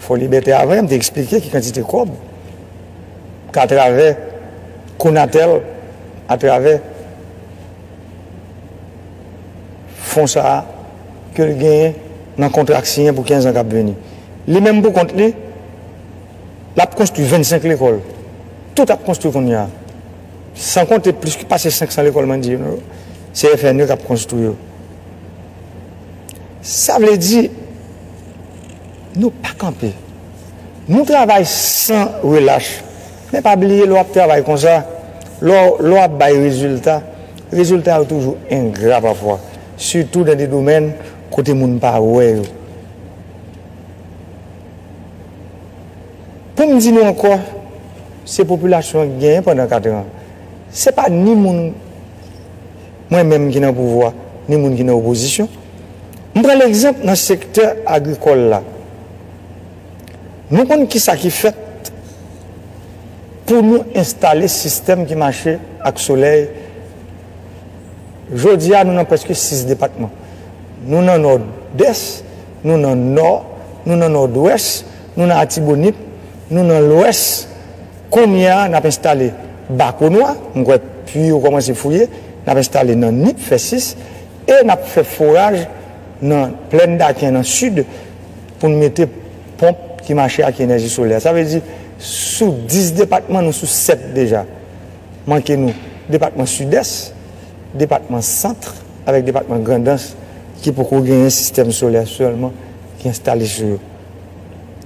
Fò Libète avan yo m te eksplike ki kantite kòb k atravè Conatel atravè fon sa a ke l genyen nan kontra k siyen pou 15 an k ap vini. Li menm pou kont li l ap konstwi 25 lekòl tout ap konstwi kounye a san konte plis pase 500 lekòl mwen di nou yo se FNE k ap konstwi yo. Sa vle di Nou pa kanpe. Nou travay san relach. Men pa bliye lè w ap travay konsa, lè w ap bay rezilta, rezilta yo toujou engra pafwa, sitou nan de domèn kote moun pa wè yo. Pou m di nou ankò, se popilasyon an ki genyen pandan katran. Se pa ni moun. mwen menm ki nan pouvwa ni moun ki nan opozisyon. M pran legzanp nan sektè agrikòl la. Nou konn ki sa ki fèt pou nou enstale sistèm ki mache ak solèy. Jodi a nou nan prèske 6 depatman. Nou nan Nòdès, nou nan Nò, nou nan Nòdwès, nou nan Atibonit, nou nan Lwès. Kounye a, n ap enstale bakonwa, m kwè pui yo kòmanse fouye, n ap enstale nan Nip, fè 6, e n ap fè foraj nan Plèn Daken nan Sid pou n mete ponp ki mache ak enèji solè. Sa vle di sou 10 depatman, nou sou 7 deja. Manke nou depatman Sidès, depatman Sant avèk depatman Grandans ki poko genyen sistèm solè sèlman ki enstale sou yo.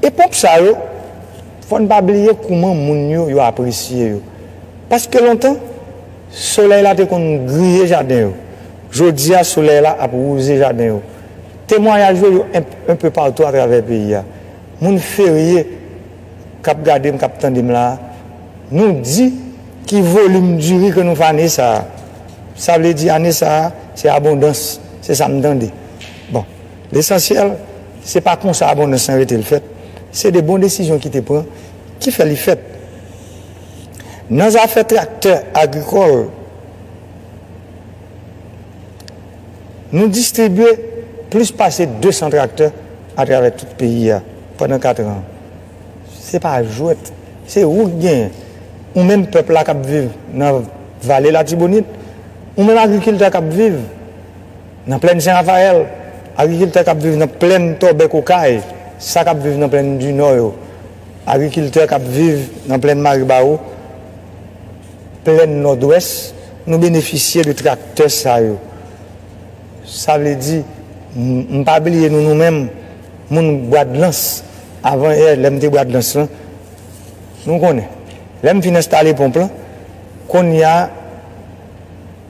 E ponp sa yo. Fò n pa bliye kouman moun yo yo apresye yo. Paske lontan, solèy la te konn griye jaden yo. Jodi a, solèy la ap wouze jaden yo. Temwayaj yo yo enpe patou atravè peyi a. Moun Ferye k ap gade m, k ap tande m la a, nou di. Ki volim diri ke nou fè ane sa a? Sa vle di ane sa a, se abondans, se sa m tande. Bon. Lesansyèl, se pa konsa abondans lan rete l fèt, se de bon desizyon ki te pran ki fè li fèt. Nan zafè traktè agrikòl, nou distribye plis pase 200 traktè atravè tout peyi a pandan katran an. Se pa jwèt, se ou ki genyen, ou menm pèp la k ap viv nan Vale Latibonit, ou menm agrikiltè k ap viv. Nan plèn Sen Rafayèl, agrikiltè k ap viv nan plèn Tòbèk Okay, sa k ap viv nan plèn Dinò yo, agrikiltè k ap viv nan plèn Maribawo, plèn Nòdwès, nou benefisye de traktè sa yo. Sa vle di, m pa bliye nou nou menm moun Bwadlans, avan yè lè m te Bwadlans lan, nou konnen. Lè m fin enstale ponp lan, kounye a.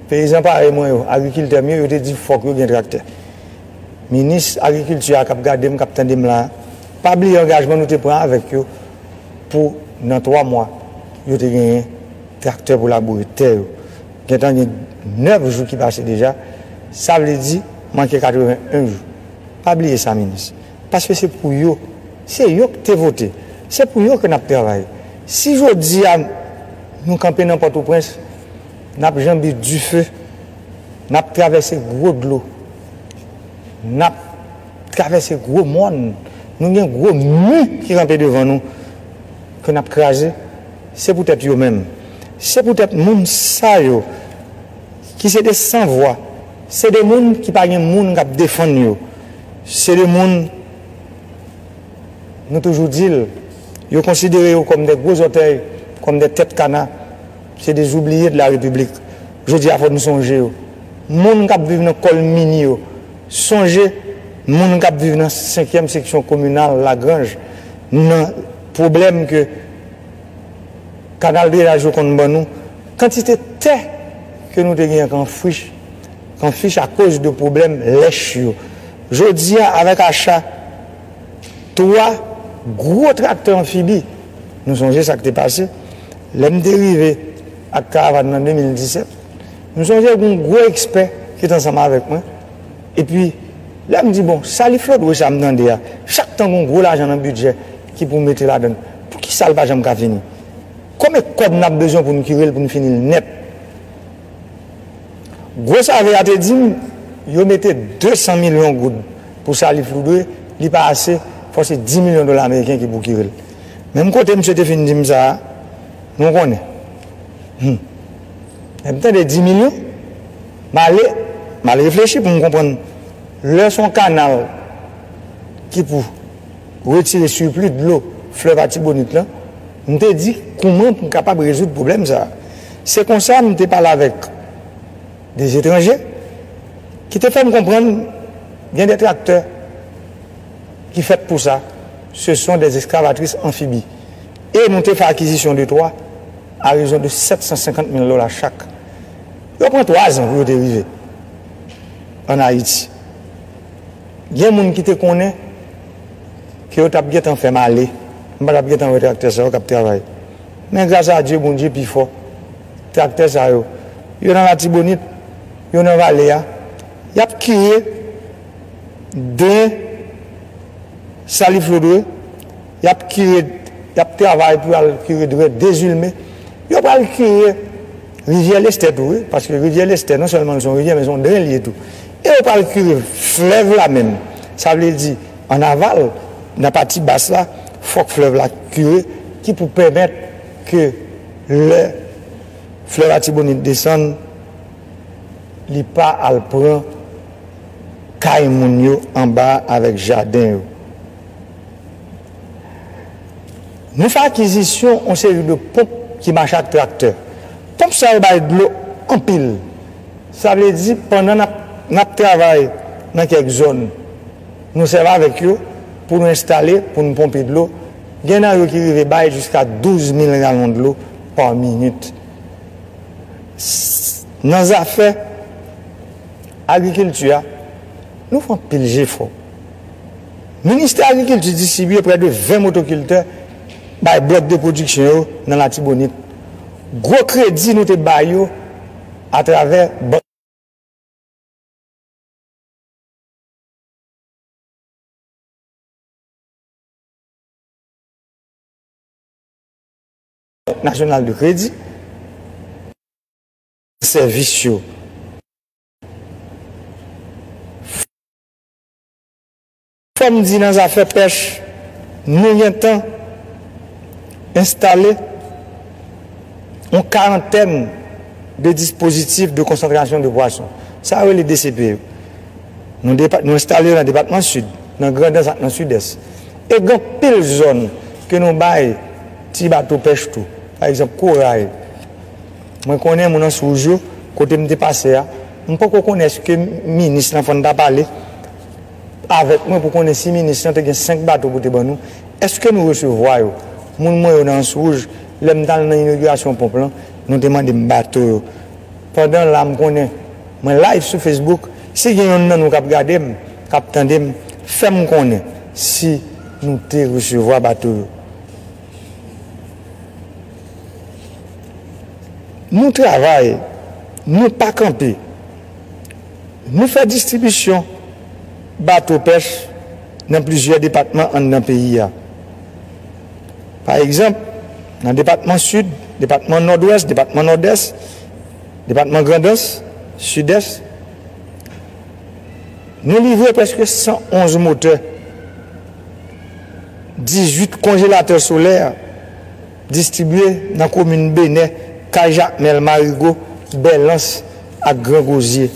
Peyizan parèy mwen yo, agrikiltè m yo, yo te di fòk yo gen traktè. Minis agrikilti a k ap gade m, k ap tande m la a, pa bliye angajman nou te pran avèk yo pou nan 3 mwa yo te genyen traktè pou laboure tè yo. Gentan gen 9 jou ki pase deja, sa vle di manke 81 jou. Pa bliye sa minis, paske se pou yo, se yo k te vote, se pou yo ke n ap travay. Si jodi a nou kanpe nan Pòtoprens, N ap janbe dife, n ap travèse gwo dlo, n ap travèse gwo mòn, nou gen gwo mi ki kanpe devan nou ke n ap kraze, se poutèt yo menm, se poutèt moun sa yo ki se de san vwa, se de moun ki pa gen moun k ap defann yo, se de moun nou toujou di l yo konsidere yo kòm de gwo zòtèy, kòm de tèt kana, Se des oubliés de la République. Jodi a fò nou sonje yo. Moun kap viv nan kòl mini yo. Sonje moun kap viv nan senkyèm seksyon kominal lagranj nan pwoblèm ke kanal drenaj yo konn ban nou. Kantite tè ke nou te gen kan frich kan fich akoz de pwoblèm lèch yo. Jodi a avèk acha. 3 gwo traktè anfibi. Nou sonje sa k te pase lè m te rive ak karavan nan 2017. M sonje gen yon gwo ekspè ki te ansanm avèk mwen. Epi, lè m di, bon, sali flodwe sa m tande a, chak tan gen yon gwo lajan nan bidjè ki pou mete ladan l, poukisa l pa janm ka fini? Konbe kòb n ap bezwen pou n kire l, pou n fini l nèt? Gwo save a te di m yo mete 200 milyon goud pou sa li foudre li pa ase fò se 10 milyon dola ameriken ki pwokire l. Menm kote misye te fin di m sa a nou konnen hum lè m tande 10 milyon m ale m al reflechi pou m konprann lè s on kanal ki pou retire sirpli dlo flèv atibonit lan M te di, Kouman pou m kapab rezoud pwoblèm sa a? Se konsa m te pale avèk de etranje ki te fè m konprann gen de traktè ki fèt pou sa, se son de ekskavatris anfibi, e nou te fè akizisyon de twa a rezon de 750 mil dola chak. Yo pran twazan pou yo te rive ann Ayiti. Gen moun ki te konnen ke yo tap gentan fèm ale, m pa tap gentan wè traktè sa yo kap travay. Men gras a Dye, Bondye pi fò. Traktè sa yo, yo nan Latibonit, yo nan vale a, yap kire den saliflodwe, yap kire, yap travay pou al kire dwèt Dezilme, yo pral kire Rivyè Lestè tou wi, paske Rivyè Lestè non sèlman li son rivyè men son dren li ye tou. E yo pral kire flèv la menm. Sa vle di, an aval, nan pati bas la, fòk flèv la kire, ki pou pèmèt ke lè flèv Atibonit desann, li pa al pran kay moun yo anba a avèk jaden yo. Nou fè akizisyon yon seri de ponp ki mache ak traktè. Ponp sa yo bay dlo anpil. Sa vle di pandan n ap travay nan kèk zòn, nou sèvi avèk yo pou nou enstale pou nou ponpe dlo. Gen nan yo ki rive bay jiska 12 mil galon dlo pa minit. Nan zafè agrikilti a, nou fè anpil jefò. Ministè agrikilti distribiye prè de 20 motokiltè bay blòk de pwodiksyon yo nan Latibonit. Gwo kredi nou te bay yo atravè Bank. Nasyonal de kredi. Sèvis yo. Fòm di nan zafè pèch nou gentan enstale yon karantèn de dispozitif de konsantrasyon de pwason. Sa yo rele DCP yo. Nou enstale yo nan depatman Sid, nan Grandans ak nan Sidès. E gen anpil zòn ke nou bay ti bato pèch tou. Pa egzanp, Koray. Mwen konnen moun ans wouj yo kote m te pase a, m poko konnen eske minis lan fòn ta pale avèk mwen pou konnen si minis lan te gen 5 bato pou te ban nou, eske nou resevwa yo? Moun mwen yo nan ans wouj, lè m t al nan inogirasyon ponp lan, nou te mande m bato yo. Pandan la m konnen mwen live sou Facebook, si gen yonn nan nou k ap gade m, k ap tande m, fè m konnen si nou te resevwa bato yo. Nou travay, nou pa kanpe. Nou fè distribisyon bato pèch nan plizyè depatman anndan peyi a. Pa egzanp, nan depatman Sid, depatman Nòdwès, depatman Nòdès, depatman Grandans, Sidès, nou livre prèske 111 motè. 18 konjelatè solè distribye nan komin Benè, Kay Jakmèl, Marigo, Bèlans ak Gran Gozye.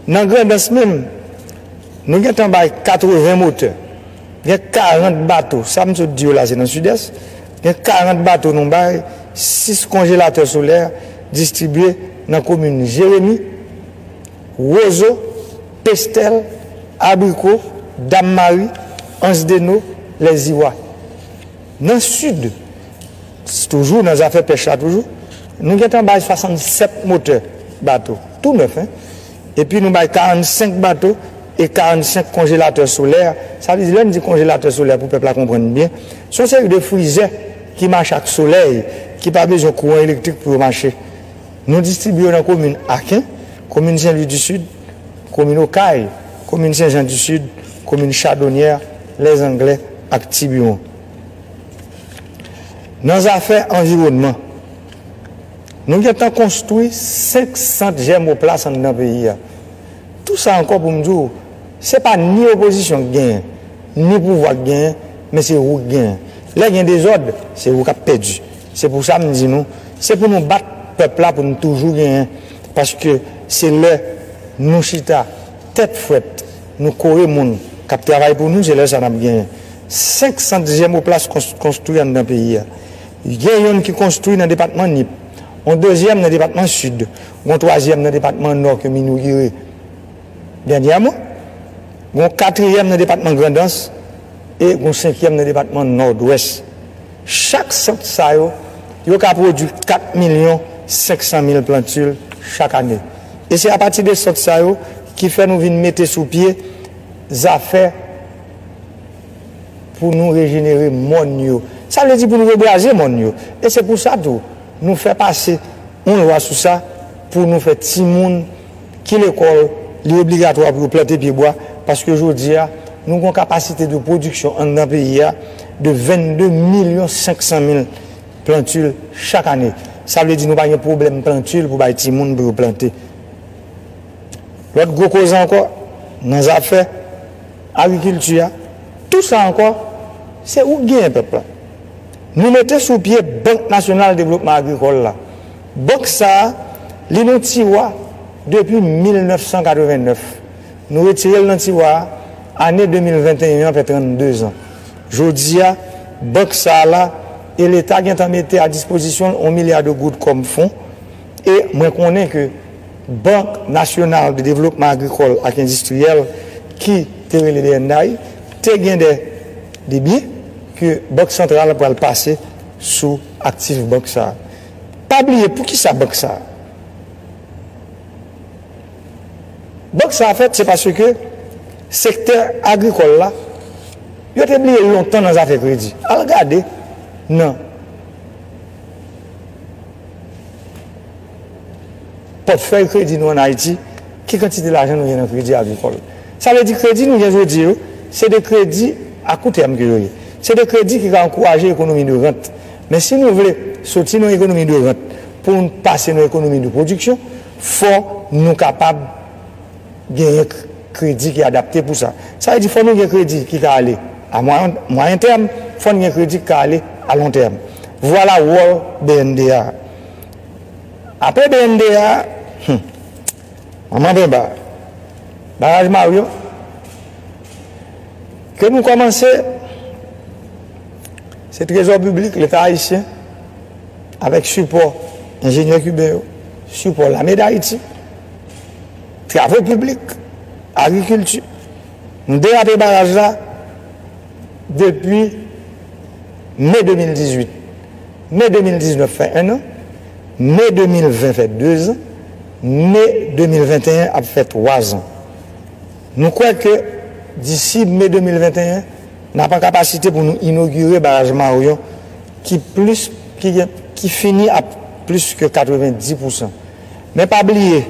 Nan Grandans menm, nou gentan bay 80 motè. Gen 40 bato, sa m sot di yo la se nan Sidès, gen 40 bato nou bay 6 konjelatè solè distribye nan komin Jeremi, Rozo, Pestèl, Abriko, Dam Mari, Ansdeno, Lèziwa. Nan Sid, s toujou nan zafè pèch la toujou, nou gentan bay 67 motè bato, tou nèf hein, epi nou bay 45 bato e 45 konjelatè solè, sa vle di lè n di konjelatè solè pou pèp la konprann byen, s on seri de frizè ki mache ak solèy, ki pa bezwen kouran elektrik pou yo mache. Nou distribye yo nan komin Aken, komin Sen Lwi di Sid, komin Okay, komin Sen Jan di Sid, komin Chadonyè, Lèzanglè ak Tibiwon. Nan zafè anviwònman, nou gen tan konstwi 5 sant jèmoplas anndan peyi a. Tou sa ankò pou m di w, se pa ni opozisyon k genyen, ni pouvwa k genyen, men se ou k genyen. Lè gen dezòd, se ou k ap pèdi. Se pou sa m di nou, se pou nou bat pèp la pou n toujou genyen, paske se lè nou chita tèt frèt, nou kore moun k ap travay pou nou, se lè sa n ap genyen. 5 sant jèmoplas konstwi anndan peyi a. Gen youn ki konstwi nan depatman Nip, yon dezyèm nan depatman Sid, yon twazyèm nan depatman Nò ke m inogire dènyèman, yon katriyèm nan depatman Grandans e yon senkyèm nan depatman Nòdwès. Chak sant sa yo, yo ka pwodui 4 milyon 500 mil plantil chak ane. E se apati de sant sa yo ki fè nou vin mete sou pye zafè pou nou rejenere mòn yo. Sa vle di pou nou rebraze mòn yo. E se pou sa tou, nou fè pase yon lwa sou sa pou nou fè timoun. Ki lekòl li obligatwa pou yo plante pye bwa paske jodi a nou gon kapasite de pwodiksyon anndan peyi a de 22 milyon 500 mil plantil chak ane sa vle di nou pa gen pwoblèm plantil pou bay timoun pou yo plante lòt gwo koze ankò nan zafè agrikilti a tou sa ankò se ou k genyen pèp la nou mete sou pye bank nasyonal devlopman agrikòl la. Bank sa, li nan tiwa depi 1989. Nou retire l nan tiwa a, ane 2021 an fè 32 zan. Jodi a, bank sa la e leta gen tan mete a dispozisyon l on milya de goud kòm fon e mwen konnen ke Bank Nasyonal de Devlopman Agrikòl ak Endistriyèl ki te rele bnday te gen de debyen ke Bank Santral pral pase sou aktif bank sa. Pa bliye poukisa bank sa a. Bank sa a fèt se paske sektè agrikòl la yo te bliye lontan nan zafè kredi. Al gade nan pòtfèy kredi nou an Ayiti ki kantite lajan nou gen nan kredi agrikòl. Sa vle di kredi nou gen jodi yo se de kredi a kou tèm ke yo ye. Se de kredi ki ka ankouraje ekonomi de rant Men si nou vle soti nan ekonomi de rant pou n pase nan ekonomi de pwodiksyon, fò nou kapab genyen kredi ki adapte pou sa. Sa vle di fò nou gen kredi ki ka ale a mwayen tèm, fò n gen kredi ki ka ale a lon tèm. Vwala wòl bnda a. Apre bnda a, hum! Manman Benba, Baraj Maryo ke nou kòmanse se trezò piblik leta ayisyen avèk sipò enjenyè kiben yo, sipò lame dayiti, travo piblik, agrikilti. Nou derape baraj la depi me 2018. Me 2019 fè ennan. Me 2020 fè dezan, me 2021 ap fè twazan. Nou kwè ke disi me 2021, n ap an kapasite pou nou inogire baraj Maryon ki plis ki gen ki fini a plis ke 90 pousan. Men pa bliye,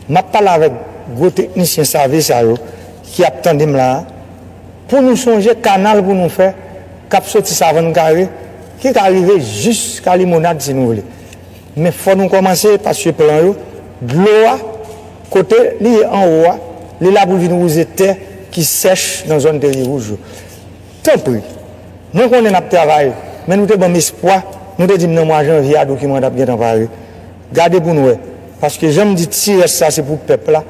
m ap pale avèk gwo teknisyen save sa yo ki ap tande m la a, pou nou sonje kanal pou nou fè k ap soti Savann Kare, Nou ka rive jis ka limonad si nou vle men fò nou kòmanse paske plan yo dlo a kote li ye anwo a li la pou vin wouze tè ki sèch nan zòn peyi wouj yo tanpri mwen konnen nap travay men nou te banm espwa nou te dim nan mwa janvye a dokiman an tap gentan pare gade pou n wè paske janm di ti rès sa se pou pèp la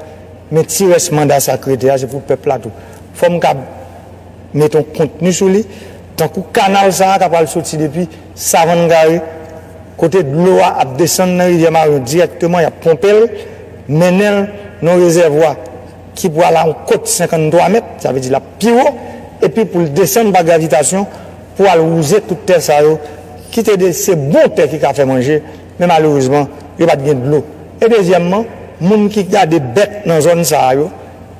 men ti rès manda sa k rete a se pou pèp la tou fò m kab Met on kontni sou li, tankou kanal sa a k apral soti depi Savann Gary, kote dlo a ap desann nan Rivyè Maryon dirèkteman, y ap ponpe l, mennen l nan on rezèvwa ki pral a on kot 53 mèt, sa vle di l ap pi wo, epi pou l desann pa gravitasyon pou al wouze tout tè sa yo ki te de se bon tè ki ka fè manje, men malerezman yo pa t gen dlo. E dezyèmman, moun ki gade bèt nan zòn sa a yo.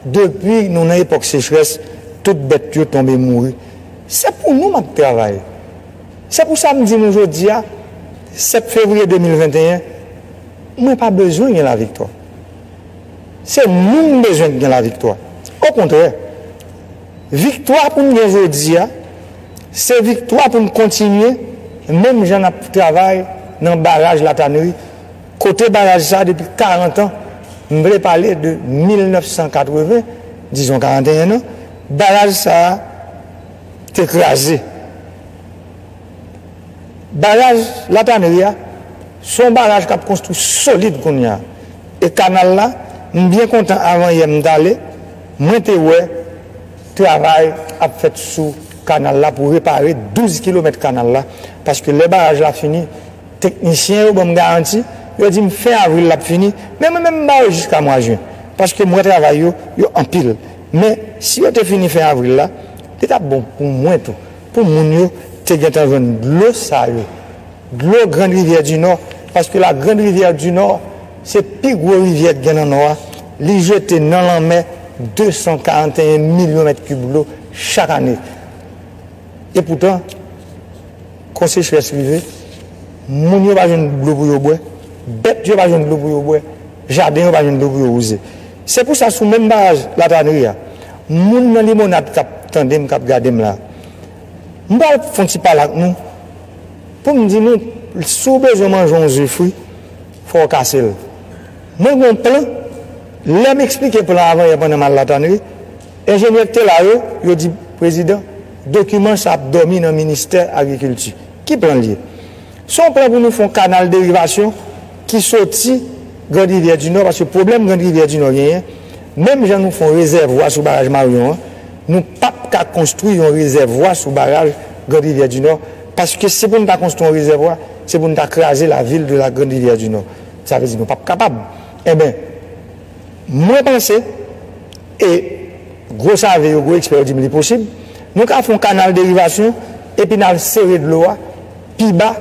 Depi nou nan epòk sechrès tout bèt yo tonbe mouri. Se pou nou m ap travay. Se pou sa m di nou jodi a, 7 fevriye 2021, mwen pa bezwen gen laviktwa. Se nou m bezwen k gen laviktwa. Okontrè, viktwa pou n gen jodi a, se viktwa pou n kontinye menm jan n ap travay nan baraj Latanri Kote baraj sa depi 40 an, m vle pale de 1980, dizon 41 an, baraj sa te kraze. Baraj La Tannerie a, se yon baraj k ap konstwi solid kounye a. E kanal la, m byen kontan avan yè m t ale, mwen te wè travay ap fèt sou kanal la pou repare 12 kilomèt kanal la, paske lè baraj la fini, Teknisyen yo ban m garanti, yo di m fen avril l ap fini, men mwen menm m ba yo jiska mwa jen, paske m wè travay yo, yo anpil. Men, si yo te fini fen avril la, li t ap bon pou mwen tou, pou moun yo te gentan jwenn dlo sa yo, dlo Grand Rivière du Nord, paske la Grande Rivière du Nord se pi gwo rivyè k gen nan Nò a, li jete nan lanmè 241 milyon mèt kib dlo chak ane. Epoutan. Kon sechrès rive, moun yo pa jwenn dlo pou yo bwè, bèt yo pa jwenn dlo pou yo bwè, jaden yo pa jwenn dlo pou yo wouze. Se pou sa sou menm baraj Latranri a, moun nan Limonad k ap tande m, k ap gade m la, m pral fè yon ti pale ak nou pou m di nou si w bezwen manje yon ze fri, fò w kase l. Mwen gen yon plan, lè m esplike plan an avanyè pandan m al Latranri, enjenyè ki te la yo, yo di, Prezidan, Dokiman sa ap dòmi nan ministè agrikilti. Ki plan l ye? Se yon plan pou nou fè yon kanal derivasyon ki soti Grand Rivyè di Nò paske pwoblèm Grand Rivyè di Nò genyen, menm jan nou fè yon rezèvwa sou baraj Maryon an, nou p ap ka konstwi yon rezèvwa sou baraj Grand Rivyè di Nò paske si pou n ta konstwi yon rezèvwa, se pou n ta kraze la ville de la Grande Rivière du Nord. Sa vle di nou p ap kapab. Enben, mwen panse. E gwo save yo, gwo ekspè yo di m li posib. Nou ka fè yon kanal derivasyon epi n al sere dlo a pi ba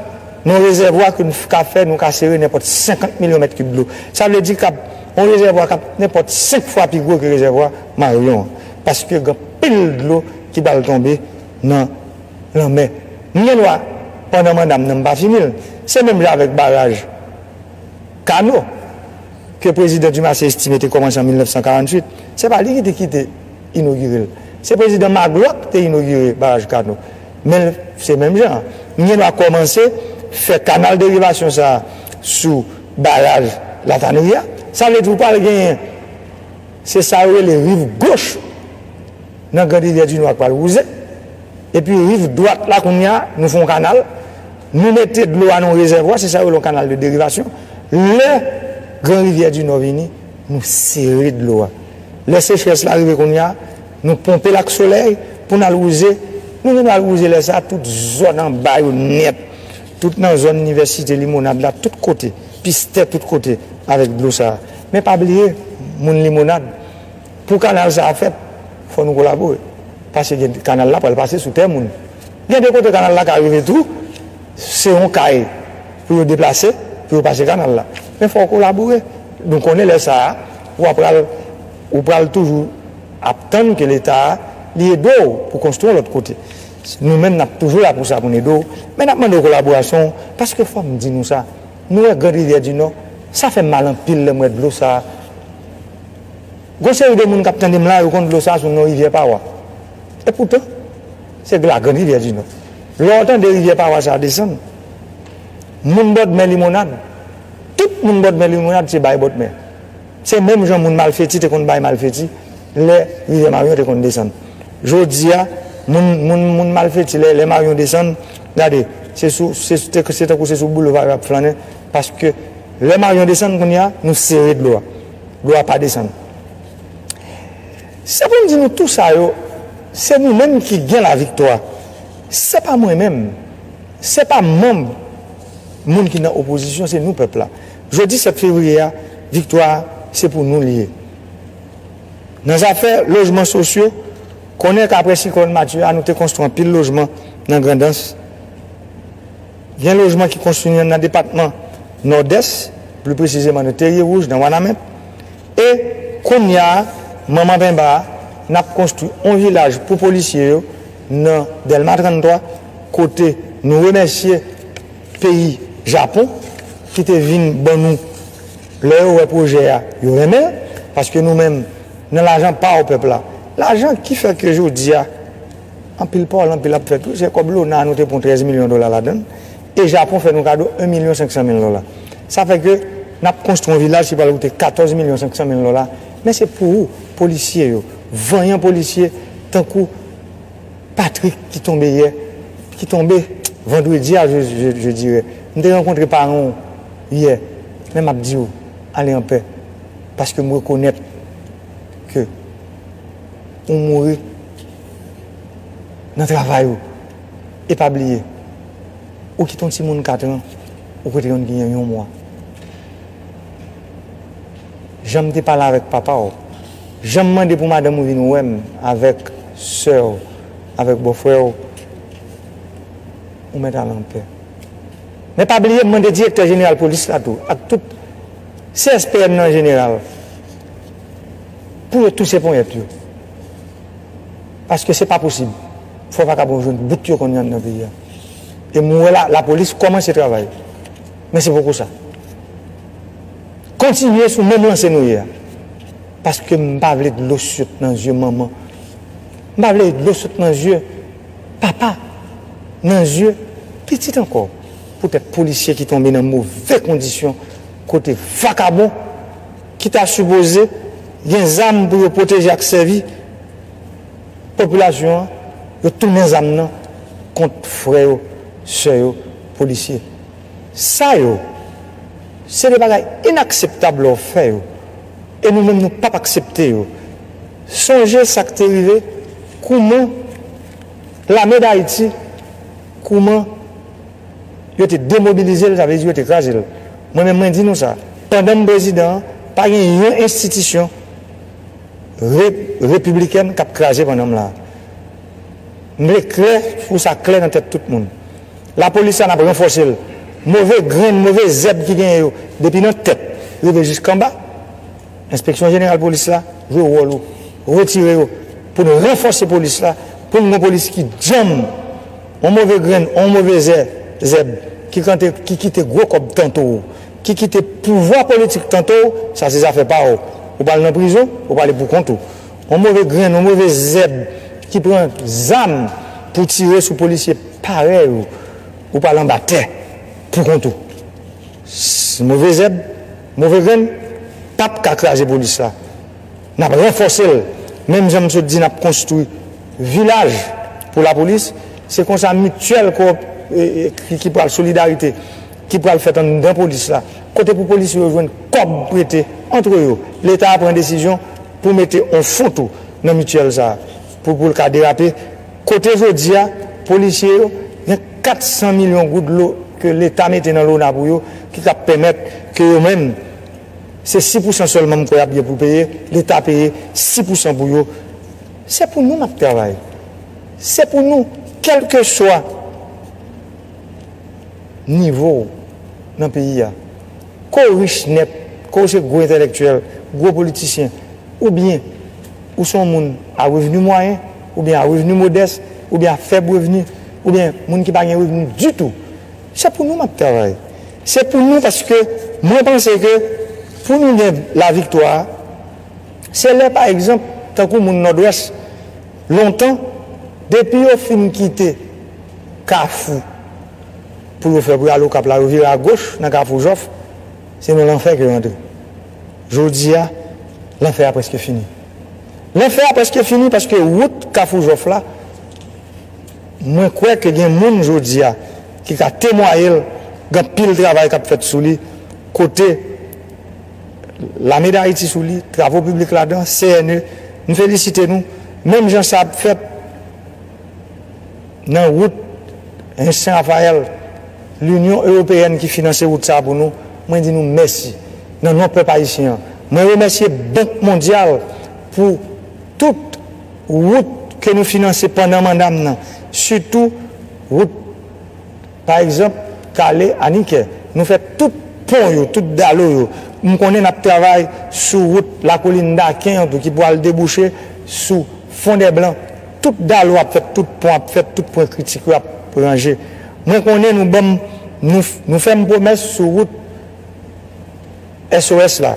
nan yon rezèvwa ke n ka fè, nou ka sere nenpòt 50 milyon mèt kib dlo. Sa vle di kab yon rezèvwa kab nenpòt 5 fwa pi gwo ke rezèvwa Maryon an. Paske gen anpil dlo ki pral tonbe nan lanmè. M gen dwa, pandan manda m nan m pa fini l, se menm jan avèk baraj. Kano, ke Prezidan Dumarsais Estimé te kòmanse an 1948, se pa li ki te kite inogire l. Se Prezidan Magloire ki te inogire Baraj Kano. Men l, se menm jan an. M gen dwa kòmanse fè kanal derivasyon sa a sou Baraj Latanri a. Sa vle di ou pral genyen, se sa yo rele riv goch. Nan grand rivyè di nò a k pral wouze epi riv dwat la kounye a nou fè yon kanal nou mete dlo a nan yon rezèvwa se sa yo rele yon kanal de derivasyon lè gran rivyè di nò vini nou sere dlo a lè sechrès la rive kounye a nou ponpe l ak solèy pou n al wouze nou vin al wouze lè sa a tout zòn anba yo nèt tout nan zòn inivèsite limonad la tout kote pistè tout kote avèk dlo sa a men pa bliye moun limonad Pou kanal sa a fèt, fò nou kolabore. Pase gen kanal la pral pase sou tè moun. Gen de kote kanal la ka rive tou, se yon kay pou yo deplase, pou yo pase kanal la. Men fò w kolabore. Nou konnen lè sa a, ou a pral, ou pral toujou ap tann ke Leta a, li ede w pou konstwi yon lòt kote. Nou menm n ap toujou la pou sa, pou n ede w. Men n ap mande w kolaborasyon w, paske fò m di nou sa, nou wè Grandrivyèdinò, sa fè m mal anpil lè m wè dlo sa a. Gon seri de moun kap tande m la yo konn dlo sa sou non rivyè pawa. E poutan, se la grand rivyè di nò. Lè w tande rivyè pawa sa desann, moun bòdmè limonad, tout moun bòdmè limonad se bay bòdmè. Se menm jan moun malfeti te konn bay malfeti lè rivyè maryon te konn desann. Jodi a, moun, moun, moun malfeti lè, lè maryon desann, gade, se sou, se, se tankou se sou boulva yo ap flannen paske lè maryon desann kounye a, nou sere dlo a. Dlo a pa desann. Se pou m di nou tou sa yo, se nou menm ki gen laviktwa. Se pa mwen menm, se pa manm, moun ki nan opozisyon, se nou pèp la. Jodi 7 fevriye a, viktwa a, se pou nou li ye. Nan zafè lojman sosyo, konnen ke apre siklòn Matye a, nou te konstwi anpil lojman nan Grandans. Gen lojman ki konstwi nan depatman Nòdès, pli presizeman nan Terye Wouj, nan Wanament. E, kounya a, manman penba a, n ap konstwi on vilaj pou polisye yo nan Dèlma 33, kote nou remèsye peyi Japon ki te vin ban nou, lè yo wè pwojè a, yo renmen l, paske nou menm, nan lajan pa w pèp la, lajan ki fè ke jodi a, Anpil pawòl anpil ap fèt wi se kòb lona nou te pwan 13 milyon dola ladann e Japon fè nou kado 1 milyon 500 mil dola sa fè ke nap konstwi yon vilaj ki pral koute 14 milyon 500 mil dola men se pou ou polisye yo vanyan polisye tankou Patrick ki tonbe yè ki tonbe vandredi a je dirè m te rankontre paran w yè men map diw ale anpè paske m rekonèt ke. ou mouri nan travay ou e pa bliye ou kite yon timoun 4 an ou kote yon gnyen yon mwa janm te pale avèk papaw janm mande pou madanm ou vin wèm avèk sèw avèk bòfrèw ou mèt al anpè men pa bliye mande direktè jeneral polis la tou ak tout CSPN nan jeneral. Pou yo touse ponyèt yo. Paske se pa posib. Fò vakabon jwenn bout yo konn yann nan peyi a. E mwen wè la polis kòmanse travay. Men se poko sa. Kontinye sou menm lanse nou ye a. Paske m pa vle dlo sot nan zye manman. M pa vle dlo sot nan zye papa. Nan zye pitit ankò. Poutèt polisye ki tonbe nan move kondisyon kote vakabon. ki ta sipoze gen zam pou yo pwoteje ak sèvi popilasyon an, yo tounen zam nan kont frè yo, sè yo, polisye. Sa yo, se de bagay inakseptab lè w fè yo, e nou menm nou pap aksepte yo. Sonje sa k te rive, kouman lame Dayiti, kouman. Yo te demobilize l, sa vle di yo te kraze l. Mwen menm mwen di nou sa, pandan m prezidan an, pa gen yon enstitisyon re, repiblikèn k ap kraze pandan m la a. M vle klè, pou sa klè nan tèt tout moun. Lapolis la n ap ranfòse l. Move grenn, move zèb ki genyen yo, depi nan tèt rive jiskanba. Enspeksyon jeneral polis la jwe wòl ou retire yo pou n ranfòse polis la pou n gon polis ki djanm on move grenn on move zè zèb ki kante ki kite gwo kòb tanto w ki kite pouvwa politik tanto w sa se zafè pa w ou pral nan prizon ou pral ale pou kont ou on move grenn on move zèb ki pran zam pou tire sou polisye parèy ou ou pral anba tè pou kont ou s move zèb. Move grenn pap ka kraze polis la. Nap ranfòse l menm jan m sot di nap konstwi vilaj pou lapolis se konsa mityèl ki pral solidarite ki pral fèt anndan polis la kote pou polisye yo jwenn kòb prete antre yo leta pran desizyon pou mete on fon tou nan mityèl sa. Pou pou l ka derape. Kote jodi a, polisye yo, gen 400 milyon goud dlo ke leta mete nan lona pou yo, ki ka pèmèt ke yo menm, se 6 pousan sèlman m kwè y ap gen pou peye, leta peye 6 pousan pou yo. Se pou nou n ap travay. Se pou nou, kèlkeswa nivo w nan peyi a. Ke w rich nèt, ke w se gwo entèlèktyèl, gwo politisyen, oubyen ou se yon moun a revni mwayen, oubyen a revni modès, oubyen a fèb revni, oubyen moun ki pa gen revni ditou, se pou nou m ap travay. Se pou nou paske mwen panse ke pou nou gen laviktwa, se lè pa egzanp tankou moun Nòdwès, lontan, depi yo fin kite Kafou, pou yo fè pou yo al Okap la, yo vire agoch nan Kafou Jòf, se nan lanfè ke yo antre. Jodi a, lanfè a prèske fini. Lanfè a prèske fini paske wout Kafou Jòf la, mwen kwè ke gen moun jodi a ki ka temwaye l, gen anpil travay k ap fèt sou li, kote Lame Dayiti sou li, Travo Piblik ladan, CNE, m felisite nou, menm jan sa ap fèt. Nan wout Hens Sen Rafayèl, Linyon Ewopeyèn ki finanse wout sa a pou nou, mwen di nou mèsi. Nan non pèp ayisyen an, mwen remèsye Bank Mondyal pou tout wout ke nou finanse pandan manda m nan, sitou wout. Pa egzanp, kale anikè. Nou fè tout pon yo, tout dalo yo. M konnen n ap travay sou wout Lakolin Daken an tou ki pwal debouche sou Fondèblan. Tout dalo ap fèt, tout pon ap fèt, tout pwen kritik yo ap ranje. Mwen konnen nou ban m, nou fè m pwomès sou wout SOS la.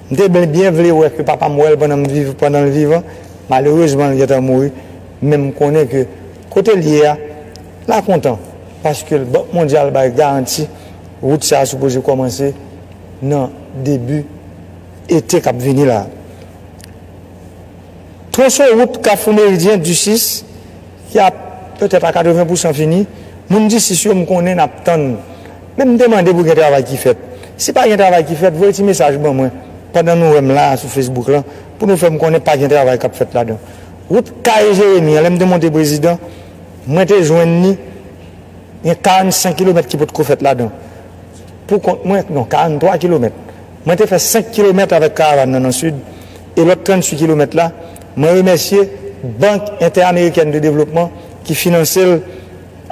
M te byen vle wè ke papa m wè l pandan l vivan, malerezman l gentan mouri, men m konnen ke. Kote l ye a la kontan paske Bank Mondyal bay garanti wout sa a sipoze kòmanse nan debi ete k ap vini la a. Twonson wout Kafou Meridyen, Ducis, ki ap petèt a 80 pousan fini, moun Ducis yo m konnen n ap tann men m te mande pou gen travay ki fèt. Si pa gen travay ki fèt voye ti mesaj ban mwen pandan nou wè m la a sou Facebook lan pou nou fè m konnen pa gen travay k ap fèt ladan. Wout Kaye Jeremi an lè m te monte prezidan, mwen te jwenn li gen 45 kilomèt ki potko fèt ladan. Pou kont mwen, non 43 kilomèt. Mwen te fè 5 kilomèt avèk karavàn nan nan Sid e lòt 38 kilomèt la, mwen remèsye Bank Entè-Amerikèn de Devlopman ki finanse l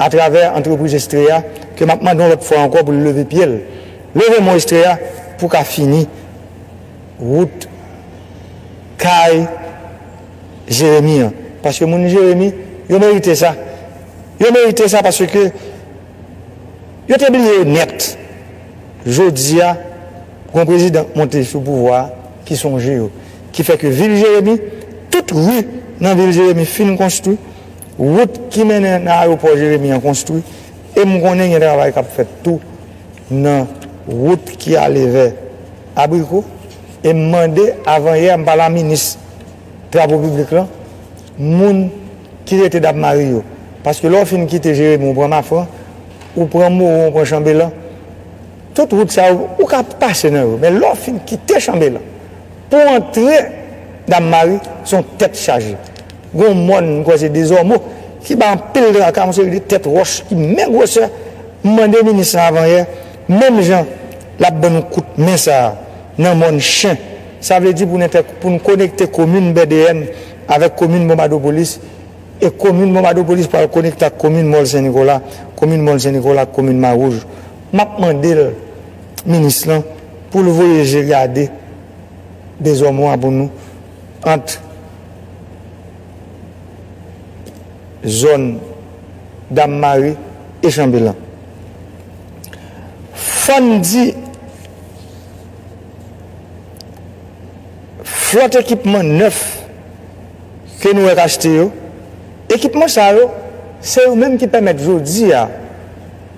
atravè antrepriz Estrella ke m ap mande yon lòt fwa ankò pou l leve pye l. Leve men w Estrella pou w ka fini. wout kay jeremi an paske moun jeremi yo merite sa yo merite sa paske yo te bliye yo nèt jodi a gon prezidan k monte sou pouvwa a ki sonje yo ki fè ke vil jeremi tout ri nan vil jeremi fin konstwi wout ki mennen nan ayewopò jeremi an konstwi e m konnen gen travay k ap fèt tou. nan wout ki ale vè Abriko e m mande avanyè a m pale a minis Travo Piblik lan moun ki rete Dapmari yo. Paske lè w fin kite Jeremi ou pran Mafran, ou pran Moron ou pran Chanbelan, tout wout sa yo ou ka pase nan yo men lè w fin kite Chanbelan pou w antre Dapmari se yon tèt chaje. Gen yon mòn, m kwè se Dezòmo, ki bay anpil traka, yon seri de tèt wòch ki menm gwosè. M mande minis lan avanyè, menm jan l ap ban nou kout men sa a nan mòn Chen, sa vle di pou n entè, pou n konekte komin Bèdeyèn avèk komin Bonbadopolis, e komin Bonbadopolis pral konekte ak komin Mòl Sen Nikola, komin Mòl Sen Nikola ak komin Mawouj. M ap mande l, minis lan, pou l voye je gade Dezòmo a pou nou. ant zòn Dammari e Chanbelan. Fò n di flòt ekipman nèf ke nou wèk achte yo, ekipman sa yo se yo menm ki pèmèt jodi a,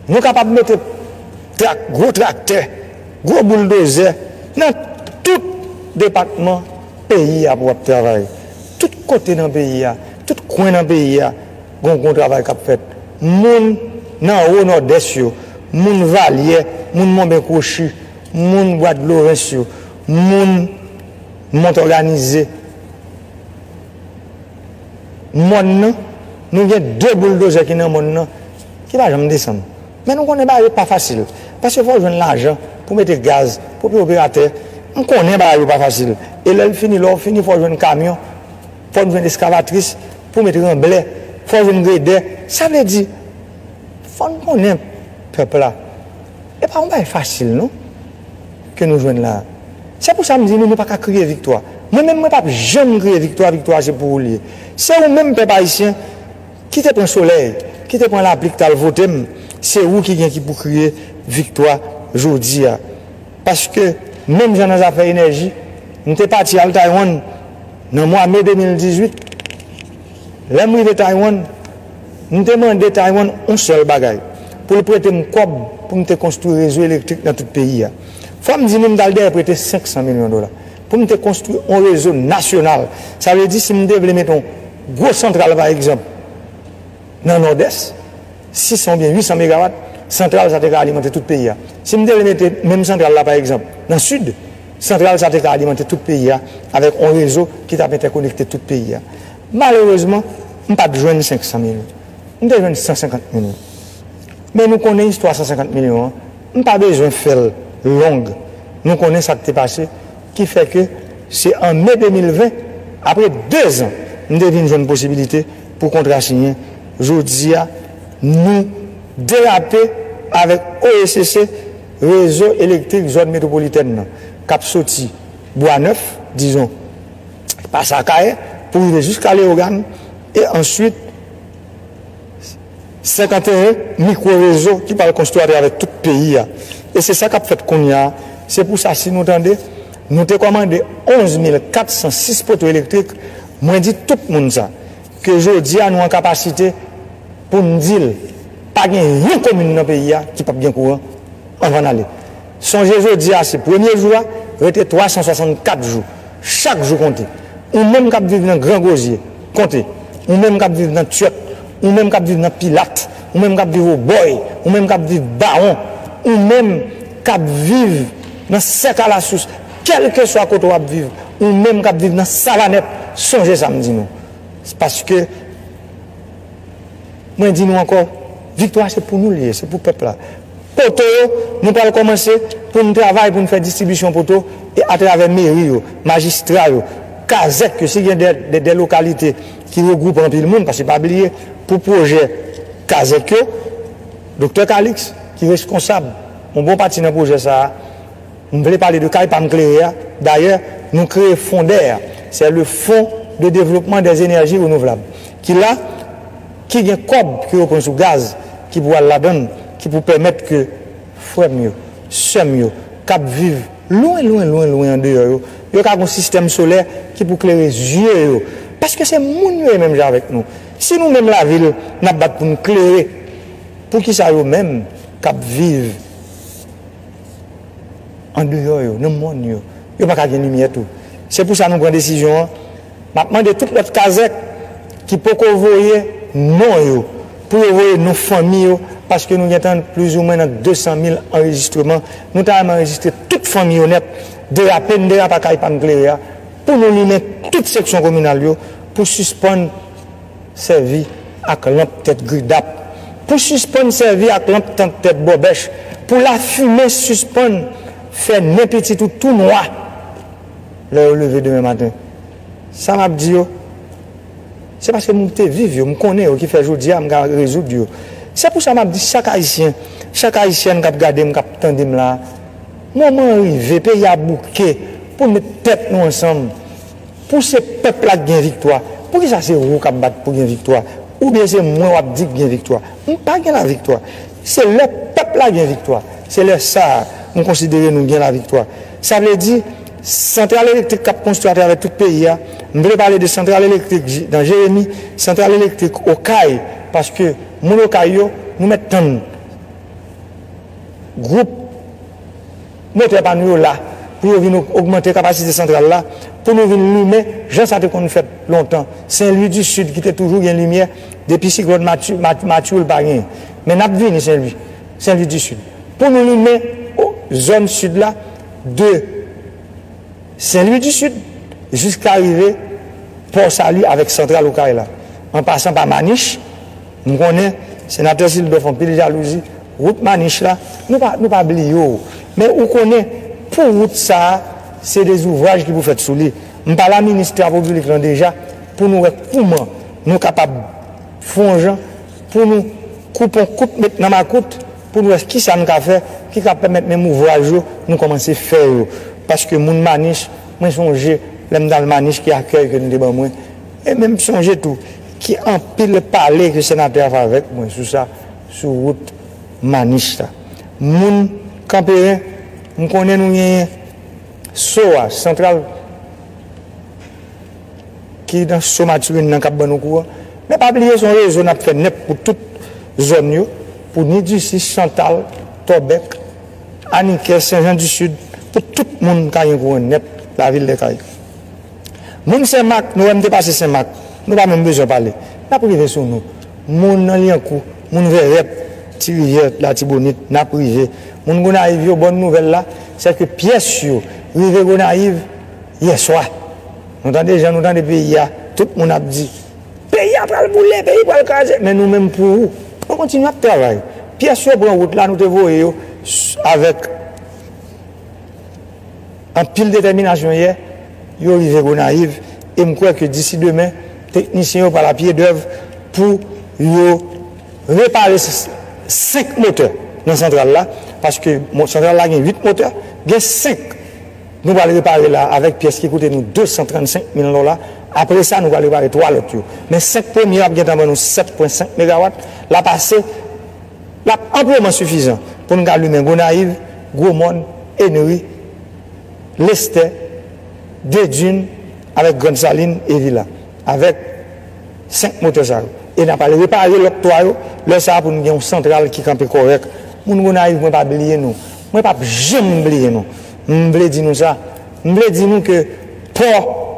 Nou kapab mete trak, gwo traktè, gwo bouldozè nan tout depatman peyi a pou ap travay. Tout kote nan peyi a, tout kwen nan peyi a gon gwo travay k ap fèt. Moun nan wo Nòdès yo, moun Valyè, moun Monben Kwochi, moun Bwadlorens yo, moun Montòganize, mòn nan, nou gen de bouldozè ki nan mòn nan. ki pa janm desann. Men nou konnen bagay yo pa fasil paske fò w jwenn lajan pou mete gaz, pou w peye operatè. M konnen bagay yo pa fasil e lè l fini, lè w fini fò w jwenn kamyon, fò n jwenn eskavatris pou met ranblè, fò w jwenn gredè. Sa vle di fò n konnen pèp la e pa yon bagay fasil non ke nou jwenn la a. Se pou sa m di nou nou pa ka kriye viktwa. Mwen menm mwen p ap janm kriye viktwa, viktwa a se pou ou l ye. Se ou menm pèp ayisyen. Ki te pran solèy, ki te pran lapli ki tal vote m, se ou ki gen ki pou kriye viktwa jodi a. Paske menm jan nan zafè enèji, m te pati al Taiwan nan mwa me 2018. Lè m rive Taiwan, m te mande Taiwan yon sèl bagay, pou l prete m kòb pou m te konstwi rezo elektrik nan tout peyi a. Fò m di nou m t al dèyè prete 500 milyon dola pou m te konstwi yon rezo nasyonal. Sa vle di si m te vle mete yon. Gwo santral pa egzanp nan Nòdès, 600 oubyen 800 megawat, santral sa te ka alimante tout peyi a. Si m te vle mete menm santral la pa egzanp nan Sid, santral sa te ka alimante tout peyi a avèk on rezo ki t ap entèkonekte tout peyi a. Malerezman, m pa t jwenn 500 mil. M te jwenn 150 mil. Men nou konnen istwa 150 milyon an, m pa bezwen fè l long. Nou konnen sa k te pase. Ki fè ke se an me 2020, apre 2 zan, m te vin jwenn posibilite pou kontra siyen. Jodi a, nou derape avèk OECC, Rezo Elektrik Zòn Metwopolitèn nan, k ap soti Bwa Nèf, dizon, pase Akayè, pou rive jiska Leyogàn, e answit, 51 mikwo rezo ki pral konstwi atravè tout peyi a e se sa kap fèt kounya se pou sa si nou tande nou te kòmande 11 mil 406 poto elektrik mwen di tout moun sa ke jodi a nou an kapasite poun dil pa gen yon komin nan peyi a ki pap gen kouran anvan n ale. Sonje jodi a se premye jou a, rete 364 jou. Chak jou konte. Ou menm k ap viv nan Gran Gozye, konte. Ou menm k ap viv nan Tyòt, ou menm k ap viv nan Pilat, ou menm k ap viv Obòy, ou menm k ap viv Bawon, ou menm k ap viv nan Sèk Alasous, kèlkeswa kote w ap viv, ou menm k ap viv nan Savanèt, sonje sa m di nou. Paske, mwen di nou ankò, viktwa se pou nou l ye, se pou pèp la. Poto yo, Nou pral kòmanse pou n travay pou n fè distribisyon poto e atravè meri yo, majistra yo, kazèk yo si gen dè lokalite ki regwoupe anpil moun paske pa bliye pou pwojè kazèk yo Doktè Kalix ki reskonsab yon bon pati nan pwojè sa a m vle pale de kay pa m klere a dayè nou kreye fondè a sè le fon de devlopman dè zenèji renouvlab ki la Ki gen kòb ke yo pran sou gaz ki pou al ladann ki pou pèmèt ke frè m yo, sè m yo k ap viv lwen lwen lwen lwen andeyò yo, yo ka gon sistèm solè ki pou klere zye yo. Paske se moun yo ye menm jan avèk nou. Si nou menm lavil n ap bat pou n klere, poukisa yo menm k ap viv andeyò yo, nan mòn yo, yo pa ka gen limyè tou? Se pou sa nou pran desizyon an. Map mande tout lòt kazèk ki poko voye non yo pou yo voye non fanmi yo paske nou gentan plizoumwen nan 200 mil anrejistreman, nou ta renmen anrejistre tout fanmi yo nèt, derape n derapa kay pam klere a pou nou limen tout seksyon kominal yo pou sispann sèvi ak lanp tèt gridap, pou sispann sèvi ak lanp tank tèt bòbèch, pou lafimen sispann fè nen pitit ou tou nwa. lè yo leve demen maten. Sa m ap di yo, se paske m te viv yo, m konnen yo ki fè jodi a m ka rezoud yo. Se pou sa m ap di chak Ayisyen, chak Ayisyèn k ap gade m, k ap tande m la a, moman an rive, peyi a bouke pou n met tèt nou ansanm, pou se pèp la k gen viktwa. Poukisa se ou k ap bat pou gen viktwa? Oubyen se mwen w ap di k gen viktwa? M pa gen laviktwa. Se lè pèp la gen viktwa. Se lè sa a nou konsidere nou gen laviktwa. Sa vle di, santral elektrik k ap konstwi atravè tout peyi a, m vle pale de santral elektrik nan Jeremi, santral elektrik Okay, paske moun Okay yo, nou mèt tann gwoup. Motè pa nou yo la pou yo vin ogmante kapasite santral la pou nou vin limen jan sa te konn fèt lontan. Sen Lwi di Sid ki te toujou gen limyè depi siklòn Matthew l pa genyen. Men n ap vini Sen Lwi, Sen Lwi di Sid. Pou nou limen zòn Sid la de Sen Lwi di Sid jiska rive Pò Sali avèk santral Okay la an pasan pa Manich, M konnen Senatè Sylbè fon pil jalouzi wout Manich la nou pa nou pa bliye w men ou konnen pou wout sa a se de zouvraj ki pou fèt sou li m pale a Minis Travo Piblik lan deja pou nou wè kouman nou kapab fon jan pou nou koupon kout met nan makout pou nou wè ki sa n ka fè ki ka pèmèt menm ouvraj yo nou kòmanse fè yo paske moun Manich mwen sonje lè m t al Manich ki akèy ke nou te ban mwen. E menm sonje tou, ki anpil pale ke senatè a fè avèk mwen sou sa, sou wout Maniche la. Moun Kanperen, m konnen nou genyen so a, santral, ki nan so Matirin nan k ap ban nou kouran. Men pa bliye se yon rezo n ap fè nèt pou tout zòn yo, pou ni di si, Chantal, Tòbèk, Anikè, Senjan di Sid, pou tout moun ka gen kouran nèt, lavil Dèkay. Moun senmak nou wè m te pase senmak nou pa menm bezwen pale nap rive sou nou moun nan lyankou moun vèrèt ti rivyè latibonit nap rive moun gonayiv yo bòn nouvèl la sèke pyès yo rive gonayiv yèswa nou tande jan nou tande peyi a tout moun ap di peyi a pral boule peyi pral kraze men nou menm pou nou kontinye ap travay pyès yo pran wout la nou te voye yo avèk. Anpil detèminasyon yè yo rive Gonayiv e m kwè ke disi demen teknisyen yo pral a pye dèv pou yo repare 5 motè nan santral la paske santral la gen 8 motè gen 5 nou pral repare la avèk pyès ki koute nou 235 mil dola apre sa nou pral repare 3 lòt yo men 5 premye yo ap gentan ban nou 7.5 megawat l ap ase l ap anpleman sifizan pou n ka limen Gonayiv Gwomòn, Ennery, Lestè, Dedun avèk Grann Salin e Vila. Avèk 5 motè sa yo. E n ap al repare lòt 3 yo, lè sa a pou n gen yon santral ki kanpe kòrèk. Moun Gonayiv mwen pa bliye nou. Mwen pa p janm bliye nou. M vle di nou sa. M vle di nou ke pò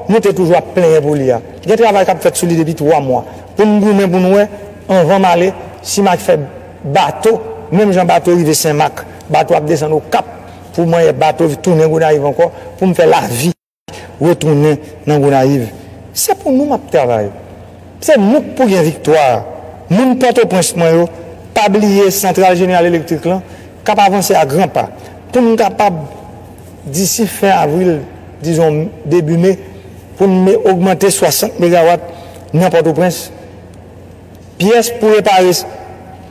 nou te toujou ap plenyen pou li a. Gen travay k ap fèt sou li depi 3 mwa. Pou n goumen pou n wè anvan m ale si m ak fè. Bato, menm jan bato rive senmak, bato ap desann okap pou mwen yè bato tounen gonayiv ankò pou m fè lavi retounen nan gonayiv se pou nou map travay se nou k pou gen viktwa a moun pòtoprens mwen yo pa bliye santral jeneral elektrik lan kap avanse a gran pa pou n kapab disi fen avril dizon debi me pou n me ogmante 60 megawat nan pòtoprens. Pyès pou repare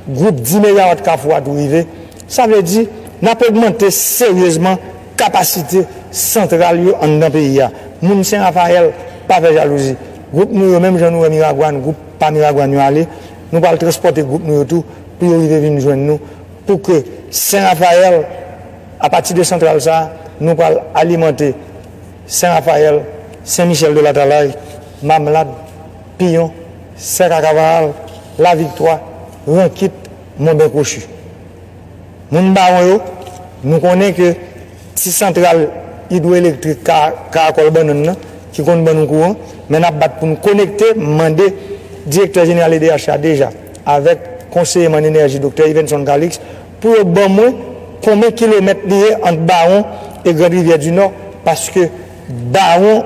gwoup 10 megawat Kafou a tou rive, sa vle di n ap ogmante seryezman kapasite santral yo anndan peyi a. Moun Sen Rafayèl, pa fè jalouzi. Gwoup nou yo, menm jan nou wè Miragwàn, gwoup pa Miragwàn yo ale, nou pral transpòte gwoup nou yo tou pou yo rive vin jwenn nou pou ke Sen Rafayèl, apati de santral sa a, nou pral alimante Sen Rafayèl, Sen Michèl de Latalay, Mamlad. Piyon, Sèk a Kavaral, Laviktwa, Rankit, Monben Kwochi. Moun Bawon yo, nou konnen ke ti santral idwoelektrik Karakòl Bannann nan ki konn ban nou kouran, men n ap bat pou nou konekte, m mande Direktè Jeneral edh la deja avèk Konseye m an Enèji Doktè Yvenson Calixte pou yo ban mwen konben kilomèt li ye ant Bawon e Grandrivyèdinò paske Bawon,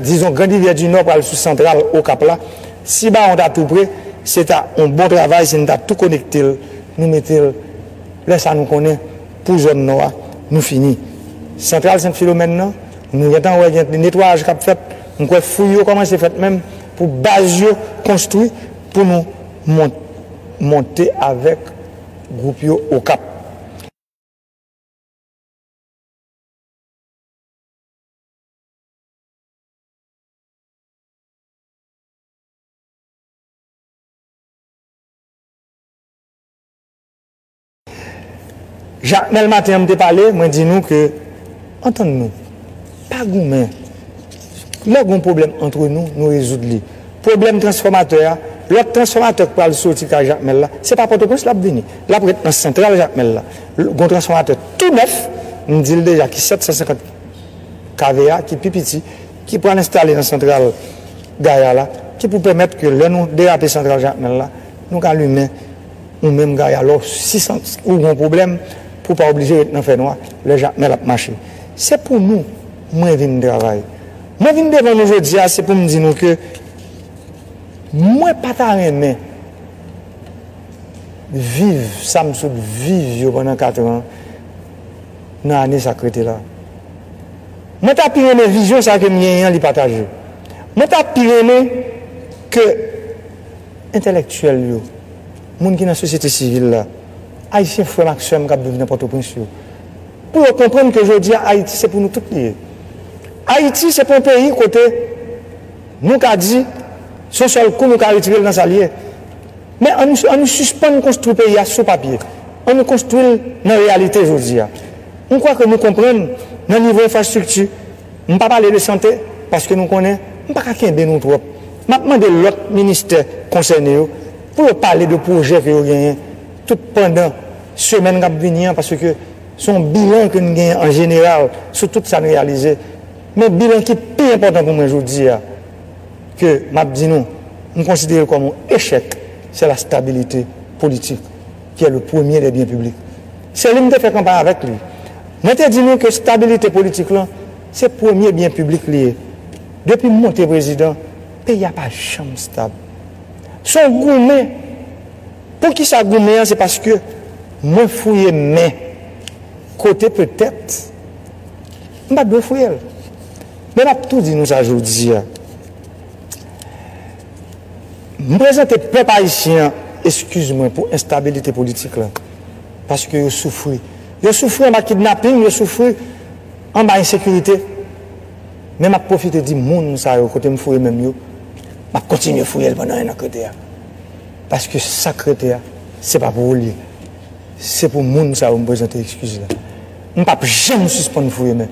dizon Grand Rivyè di Nò pral sou santral Okap la, si Bawon ta tou pre, se ta yon bon travay si n ta tou konekte l, nou mete l, lè sa nou konnen pou zòn Nò a, nou fini. Santral Sent Filomèn nan, nou gen tan wè gen netwayaj k ap fèt, m kwè fouy yo kòmanse fèt menm pou baz yo konstwi pou nou monte avèk gwoup yo Okap. Jakmèl maten an m te pale, mwen di nou ke antann nou, pa goumen. Lè gon pwoblèm antre nou, nou rezoud li. Pwoblèm transfòmatè a, lòt transfòmatè k pral soti kay Jakmèl la, se pa Pòtoprens l ap vini. L ap ret nan santral Jakmèl la. Gon transfòmatè tou nèf, m di l deja ki 750 kV a, ki pi piti, ki pral enstale nan santral Gaya la, ki pou pèmèt ke lè nou derape santral Jakmèl la, nou ka limen ou menm Gaya lè w si santi ou gon pwoblèm pou w pa oblije ret nan fè nwa lè Jakmèl ap mache. Se pou nou mwen vin travay. Mwen vin devan nou jodi a se pou m di nou ke mwen pa ta renmen. viv sa m sot viv yo pandan katran nan ane sa k rete la. Mwen ta pi renmen vizyon sa ke m genyen an li pataje. Mwen ta pi renmen ke entèlèktyèl yo, moun ki nan sosyete sivil la, Ayisyen frè m ak sè m k ap viv nan Pòtoprens yo, pou yo konprann ke jodi a Ayiti se pou nou tout li ye. Ayiti se pou yon peyi kote nou ka di se yon sèl kou nou ka retire l nan sa l ye. Men an nou an nou sispann konstwi peyi a sou papye, an nou konstwi l nan reyalite jodi a. M kwè ke nou konprann nan nivo enfrastrikti, m pa pale de sante paske nou konnen m pa ka kenbe nou twòp. M ap mande lòt ministè konsène yo pou yo pale de pwojè ke yo genyen tout pandan semèn k ap vini an paske se yon bilan ke n genyen an jeneral sou tout sa n reyalize. Men bilan ki pi enpòtan pou mwen jodi a Ke map di nou, m konsidere l kòm yon echèk, se la stabilite politik ki è le premye dè byen piblik. Se li m te fè kanpay avèk li. Mwen te di nou ke stabilite politik lan se premye byen piblik li ye. Depi m monte prezidan, peyi a pa janm stab. Se yon goumen. Poukisa goumen an se paske mwen fouye men kote petèt m pat dwe fouye l. Men m ap tou di nou sa jodi a, m prezante pèp ayisyen an eskiz mwen pou enstabilite politik la, paske yo soufri. Yo soufri anba kidnaping, yo soufri anba ensekirite, men m ap pwofite di moun sa yo kote m fouye men m yo, m ap kontinye fouye l pandan ennan k rete a, paske sa k rete a se pa pou ou l ye, se pou moun sa yo m prezante eskiz la. M pap janm sispann fouye men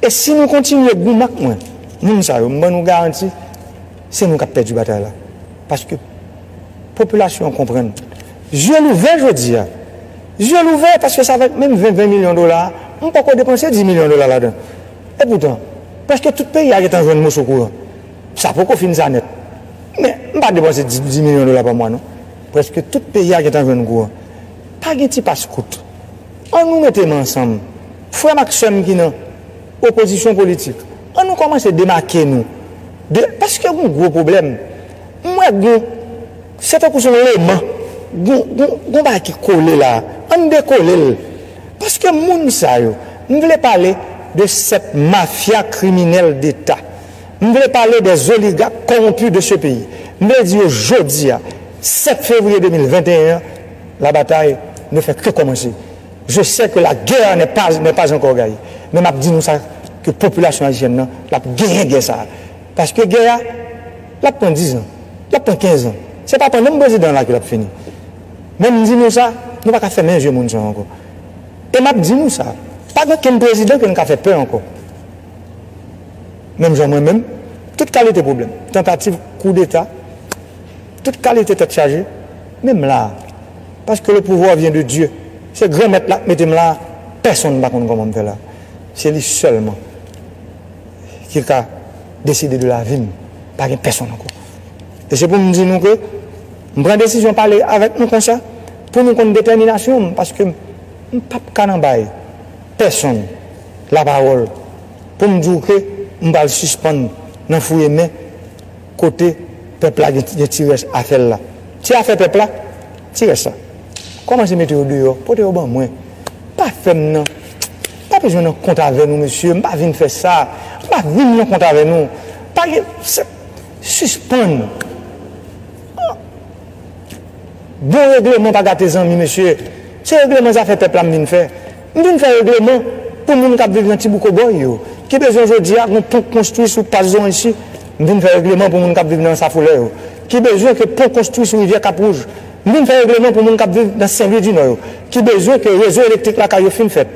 e si nou kontinye goumen ak mwen moun sa yo m ban nou garanti se nou k ap pèdi batay la paske popilasyon an konprann zye l ouvè jodi a zye l ouvè paske sa vèt menm 20 milyon dola a m poko depanse 10 milyon dola ladan e poutan prèske tout peyi a gen tan jwenn moso kouran sa poko fin sa nèt men m pa depanse 10 milyon dola pa mwa non prèske tout peyi a gen tan jwenn kouran pa gen ti paskout. An nou mete men ansanm, frè m ak sè m ki nan opozisyon politik, an nou kòmanse demake nou de, paske gen yon gwo pwoblèm, m wè gen yon, se tankou se yon leman, gen yon bagay ki kole la, an n dekole l, paske moun sa yo, m vle pale de 7 mafya kriminèl deta, m vle pale dè zoligak kowonpi de se peyi, m vle di yo jodi a, 7 fevriye 2021 an, La bataille ne fait que commencer. Je sais que la guerre n'est pas n'est pas encore gaye. Men map di nou sa ke popilasyon ayisyèn nan lap genyen gè sa a. Paske gè a lap pran 10 zan, lap pran 15 zan. Se pa pandan m prezidan an la ke lap fini. Men m di nou sa, nou pa ka fèmen zye moun sa yo ankò. E map di nou sa, pa gen okenn prezidan ke nou ka fè pè ankò. Menm jan mwen menm, tout kalite pwoblèm, tantativ koudeta, Tout kalite tèt chaje, menm la a. Paske le pouvoir vient de Dieu. Se Granmèt la k mete m la a, pèsonn pa konn kòman m fè la. Se li sèlman ki ka deside de lavi m. Pa gen pèsonn ankò. E se pou m di nou ke m pran desizyon pale avèk nou konsa pou nou konn detèminasyon m paske m pa p ka nan bay pèsonn lapawòl pou m di w ke m pral sispann nan fouye men Kote pèp la gen ti rès afè l la? Ti afè pèp la? Ti rès la? Kòmanse mete yo deyò, pote yo ban mwen. Pa fè m nan, pa bezwen nan kont avè nou mesye, m pa vin fè sa, m pa vin nan kont avè nou. Pa gen sa, sispann. Bon regleman pa gate zanmi mesye, se regleman zafè pèp la m vin fè. M vin fè regleman pou moun k ap viv nan ti bouk Obòy yo, ki bezwen jodi a gon pon konstwi sou Pas Zoranshi. M vin fè regleman pou moun k ap viv nan Ansafolè yo, ki bezwen ke pon konstwi sou Rivyè Kap Wouj. M vin fè regleman pou moun k ap viv nan Sen Lwi di Nò yo, ki bezwen ke rezo elektrik lakay yo fin fèt.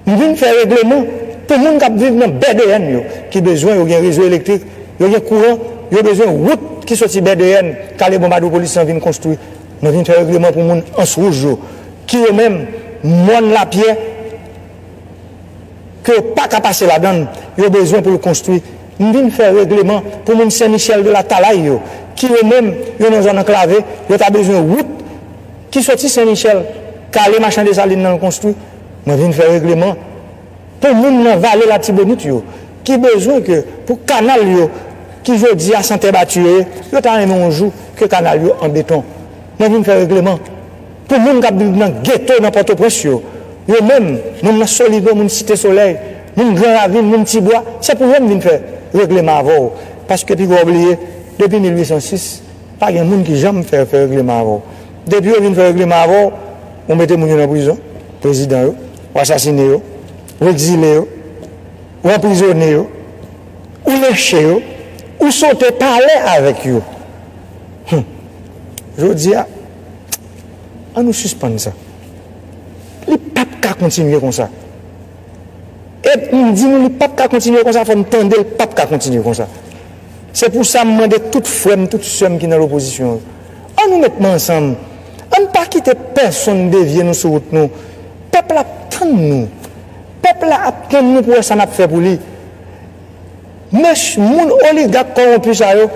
M vin fè regleman pou moun k ap viv nan BDN yo, ki bezwen yo gen rezo elektrik, yo gen kouran, yo bezwen wout ki soti BDN, Kale Bonbadou Polis lan vin konstwi. Mwen vin fè regleman pou moun ans wouj yo, ki yo menm mòn lapyè ke yo pa ka pase ladan l, yo bezwen pou l konstwi. M vin fè regleman pou moun Sen Michèl de la Talay yo, ki yo menm yo nan zòn anklave, yo ta bezwen wout ki soti Sen Michèl kale machan Desalin nan l konstwi. Mwen vin fè regleman. Pou moun nan vale latibonit yo ki bezwen ke pou kanal yo ki jodi a san tè bati yo ye, yo ta renmen yon jou ke kanal yo an beton. Mwen vin fè regleman pou moun kap viv nan geto nan Pòtoprens yo, yo menm moun nan Solive, moun Site Solèy, moun Gran Ravin, moun Ti Bwa, se pou yo m vin fè regleman avè w paske pi gwa w bliye depi 1806 pa gen moun ki janm fè fè regleman avè w. Depi yo vin fè regleman avè w, ou mete moun yo nan prizon. Prezidan yo, ou asasine yo, ou ekzile yo, ou anprizone yo, ou lenche yo, ou sote pale avèk yo. Hum! Jodi a, an nou sispann sa. Li pa p ka kontinye konsa. E m di nou li pa p ka kontinye konsa, fò n tande l pa p ka kontinye konsa. Se pou sa m mande tout frè m, tout sè m ki nan lopozisyon yo, An nou met men ansanm, an n pa kite pèsonn devye nou sou wout nou. Pèp la ap tann nou. Pèp la ap tann nou pou wè sa n ap fè pou li. Mech moun oligak kowonpi sa yo,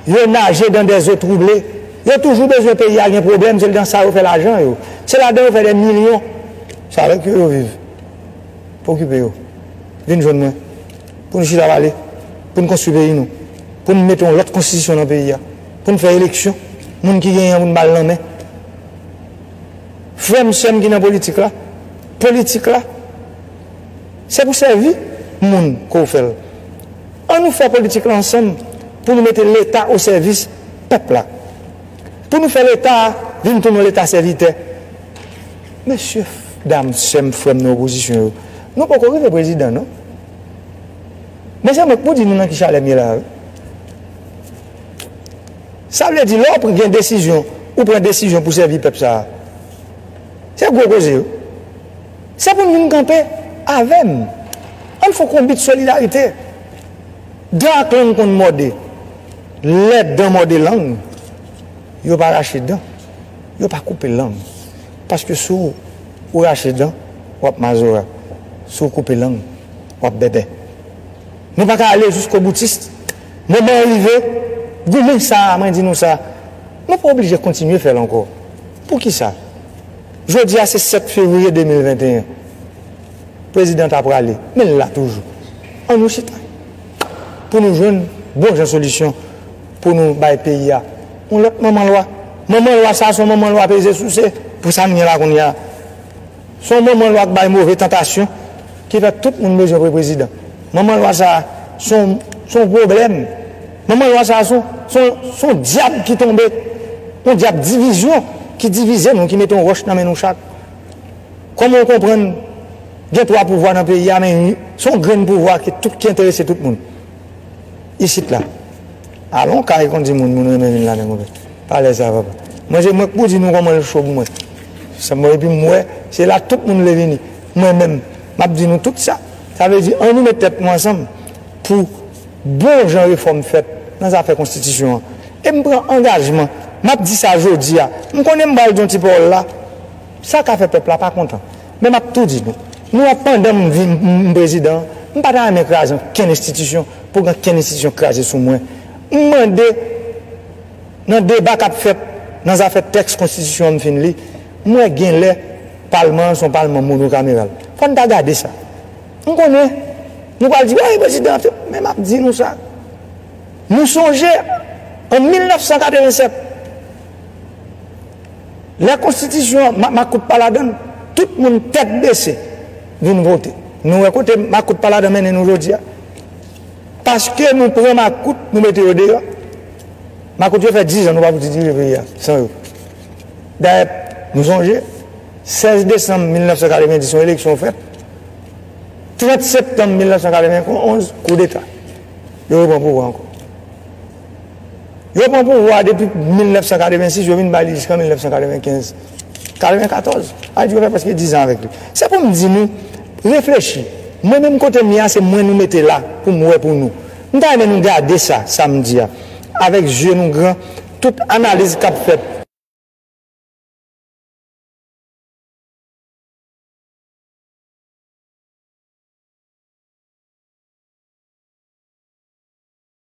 yo naje dan dè zo twouble. Yo toujou bezwen peyi a gen pwoblèm, se dan sa yo fè lajan yo. Se ladan yo fè dè milyon. Se avèk yo yo viv. Pa okipe yo. Vin jwenn mwen pou n chita pale, pou n konstwi peyi nou, pou n mete yon lòt konstitisyon nan peyi a. Poun fè eleksyon moun ki genyen an poun bal nan men frèm sèm ki nan politik la politik la se pou sèvi moun kou fèl an nou fè politik la ansanm pou nou mete leta o sèvis pèp la pou nou fè leta vin tounen leta sèvitè mesye dam sèm frèm nan opozisyon yo nou poko rive prezidan non mezanmi pou di nou nan ki chalèm ye la wi. Sa vle di lè w gen desizyon, ou pran desizyon pou sèvi pèp sa a. Se gwo koze wi. Se pou n vin kanpe avè m. An n fon konbit solidarite. Dan ak lang konn mòde. Lè dan mòde lang, yo pa rache dan. Yo pa koupe lang. Paske si w rache dan, w ap mazora. Si w koupe lang, w ap bèbè. Nou pa ka ale jiskoboutis. Moman an rive, goumen sa a, mwen di nou sa, nou pa oblije kontinye fè l ankò. Poukisa? Jodi a se 7 fevriye 2021. Prezidan ta prale, men l la toujou. An nou chita pou nou jwenn bon jan solisyon pou nou bay peyi a yon lòt manman lwa. Manman lwa sa a se yon manman lwa peze souse pou sa n gen la kounye a. Se yon manman lwa k bay move tantasyon ki fè tout moun bezwen pre prezidan. Manman lwa sa a se yon se yon pwoblèm. Manman lwa sa a se yon se yon dyab ki tonbe, yon dyab divizyon ki divize nou, ki mete yon wòch nan men nou chak. Kòman w konprann gen twa pouvwa nan peyi a men se yon grenn pouvwa ki enterese tout moun. isit la alon kay kondi moun moun renmen vin ladann konpè palè sa papa mwen se mwen k pou di nou komanl cho pou mwen sa mwen epi m wè se la tout moun vle vini mwen menm map di nou tout sa sa vle di an nou met tèt nou ansanm pou bon jan refòm fèt nan zafè konstitisyon an e m pran angajman map di sa jodi a m konnen m pral di yon ti pawòl la. Sa ka fè pèp la pa kontan. Men m ap tou di nou, nou wè pandan m vin m prezidan an, m pa ta renmen kraze ankenn enstitisyon pou k ankenn enstitisyon kraze sou mwen. M mande nan deba k ap fèt nan zafè tèks konstitisyon an m fin li, m wè genlè palman an se yon palman monokameral. Fò n ta gade sa. M konnen nou pral di wè prezidan an fè, men m ap di nou sa, nou sonje an 1987, Lè konstitisyon an ma makout pa ladann tout moun tèt bese vin vote nou wè kote makout pa ladan mennen nou jodia paske nou pran makout nou mete yo deyò makout yo fè 10 an nou pa fouti dirije peyi a san yo dayè nou sonje 16 desanm 1990 yon eleksyon fèt 30 septanm 1991 koudeta yo repran pouvwa ankò. Yo pran pouvwa depi 1986, yo vin ba li jiskan 1995. 94. Haïti yo fè prèske dizan avèk li. Se pou m di nou, reflechi. Mwen menm kote m ye a, se mwen nou mete la pou m wè pou nou. M ta renmen nou gade sa, sa m di a, avèk zye nou gran, tout analiz k ap fèt.